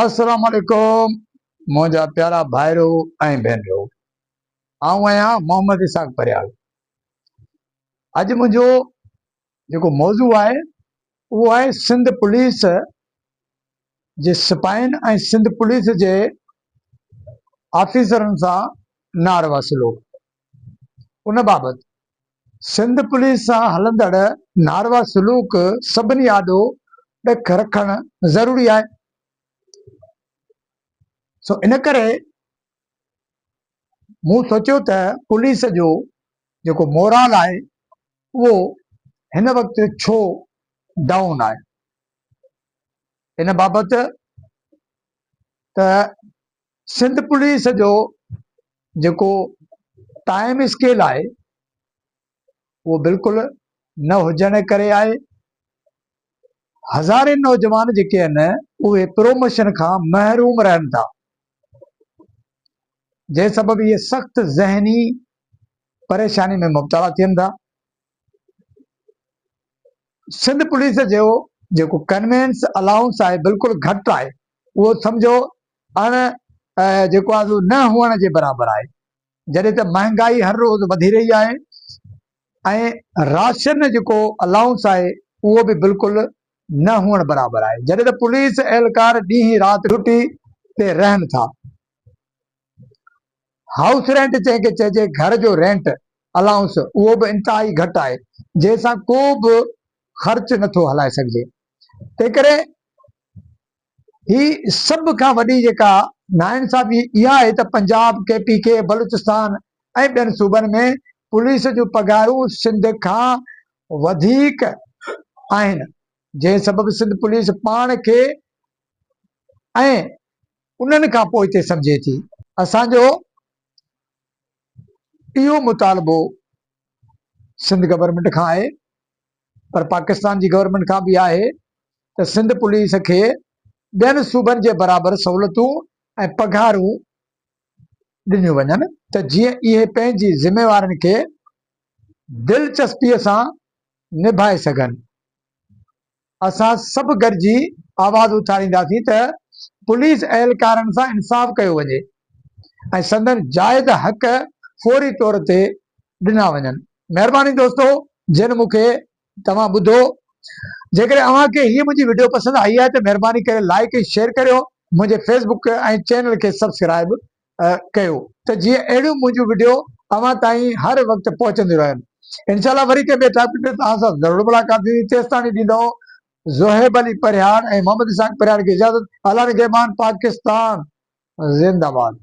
السلام عليڪم منهنجا پيارا ڀائرو ۽ ڀينرو آئون آهيان محمد اسحاق پريال اڄ منهنجو جيڪو موضوع آهي اهو آهي سنڌ پوليس جي سپاهين ۽ سنڌ پوليس جي آفيسرن سان ناروا سلوڪ ان بابت سنڌ پوليس سان هلندڙ ناروا سلوڪ سڀني آڏو ڏک رکڻ ضروري آهي سو ان ڪري مون سوچيو ته پوليس جو جيڪو مورال آهي اهو هن وقت ڇو ڊائون آهي ان بابت ته سنڌ پوليس جو جيڪو ٽائيم اسڪيل آهي اهو بلڪل نه هجڻ جي ڪري آهي هزارين نوجوان جيڪي آهن اهي پروموشن کان محروم رهن ٿا جنهن سبب اهي سخت ذهني پريشاني ۾ مبتلا ٿين ٿا سنڌ پوليس جو جيڪو ڪنوينس الائونس آهي بلڪل گهٽ آهي اهو سمجهو اڻ جيڪو آهي نه هئڻ جي برابر آهي جڏهن ته مهانگائي هر روز وڌي رهي آهي ۽ راشن جيڪو الائونس آهي اهو به بلڪل نه هئڻ برابر آهي جڏهن ته پوليس اهلڪار ڏينهن رات ڊيوٽي تي رهن ٿا هائوس رينٽ جنهن کي چئجي گهر جو رينٽ الائونس اهو به انتهائي گهٽ آهي جنهن سان ڪو به خرچ نٿو هلائي سگهجي تنهنڪري هي سڀ کان وڏي جيڪا ناانصافي اها آهي ته Punjab K P K Balochistan ۽ ٻين صوبن ۾ پوليس جون پگهارون سنڌ کان وڌيڪ آهن جنهن سبب سنڌ پوليس پاڻ کي ۽ انهن کان پوء ٿي سمجهي ٿي. اسان جو اهو مطالبو سنڌ گورنمينٽ کان آهي پر پاڪستان جي گورنمينٽ کان به آهي ته سنڌ پوليس کي ٻين صوبن جي برابر سهولتون ۽ پگهارون ڏنيون وڃن ته جيئن اهي پنهنجي ذميوارين کي دلچسپي سان نڀائي سگهن اسان سڀ گڏجي آواز اٿارينداسين ته پوليس اهلڪارن سان انصاف ڪيو وڃي ۽ سندن جائز حق فوري طور تي ڏنا وڃن. مهرباني دوستو جن مون کي توهان ٻڌو جيڪڏهن اوهان کي هيء منهنجي وڊيو پسند آئي آهي ته مهرباني ڪري لائيڪ ۽ شيئر ڪريو منهنجي فيس بڪ ۽ چينل کي سبسڪرائيب ڪيو ته جيئن اهڙيون منهنجون وڊيو اوهان تائين هر وقت پهچنديون رهن انشاء الله وري ڪنهن ٻئي ٽاپڪ تي توهان سان ضرور ملاقات ٿيندي تيستاڻي ڏيندؤ زوهيب علي پرهياڙ ۽ محمد اسحاق پرهياڙ کي اجازت الله نگهبان پاڪستان زنده باد.